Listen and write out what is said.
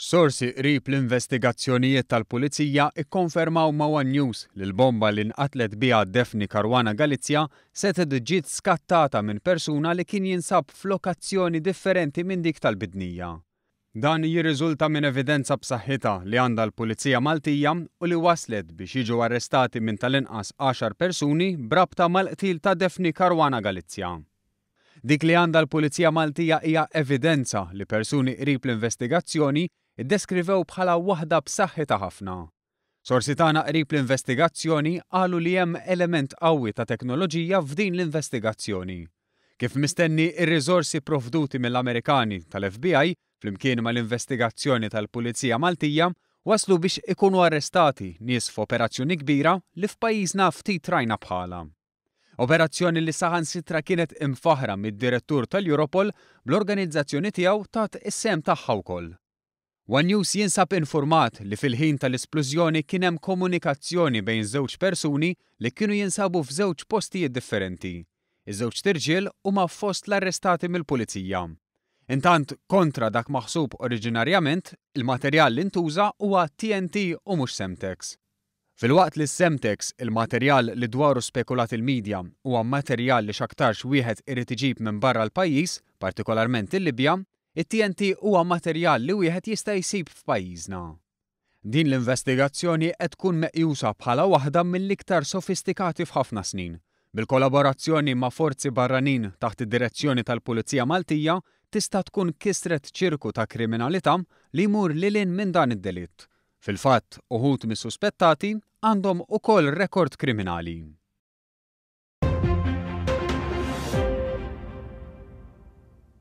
Sorsi qrib l-investigazzjonijiet tal-Pulizija kkonfermaw ma' one News li l-bomba li nqatlet biha Daphne Caruana Galizia setgħet ġiet skattata minn persuna li kien jinsab f'lokazzjoni differenti minn dik tal-bidnija. Dan jirriżulta minn evidenza b'saħħitha li għandha l-Pulizija Maltija u li wasslet biex jiġu arrestati minn tal-inqas għaxar persuni b'rabta mal-qtil ta' Daphne Caruana Galizia. Dik li għandha l-Pulizija Maltija hija evidenza li persuni qrib l-investigazzjoni ddeskrivew bħala waħda b'saħħitha ħafna. Sorsi tagħna qrib l-investigazzjoni qalu li hemm element qawwi ta' teknoloġija f'din l-investigazzjoni. Kif mistenni, ir-riżorsi pprovduti mill-Amerikani tal-FBI flimkien mal-investigazzjoni tal-Pulizija Maltija wasslu biex ikunu arrestati nies f'operazzjoni kbira li f'pajjiżna ftit rajna bħalha. Operazzjoni li saħansitra kienet imfaħħra mid-Direttur tal-Europol bl-organizzazzjoni tiegħu tat is-sehem tagħha wkoll. One News jinsab infurmat li fil-ħin tal-isplużjoni kien hemm komunikazzjoni bejn żewġ persuni li kienu jinsabu f'żewġ postijiet differenti. Iż-żewġt irġiel huma fost l-arrestati mill-Pulizija. Intant, kontra dak maħsub oriġinarjament, il-materjal li ntuża huwa TNT u mhux Semtex. Filwaqt li s-Semtex, il-materjal li dwaru spekulat il-midja, huwa materjal li x'aktarx wieħed irid iġib minn barra l-pajjiż, partikolarment il-Libja, it-TNT huwa materjal li wieħed jista' jsib f'pajjiżna. Din l-investigazzjoni qed tkun meqjusa bħala waħda mill-iktar sofistikati f'ħafna snin. Bil-kollaborazzjoni ma' forzi barranin taħt id-direzzjoni tal-Pulizija Maltija tista' tkun kisret ċirku ta' kriminalità li jmur lil hinn minn dan id-delitt. Fil-fatt, uħud mis-suspettati għandhom ukoll rekord kriminali.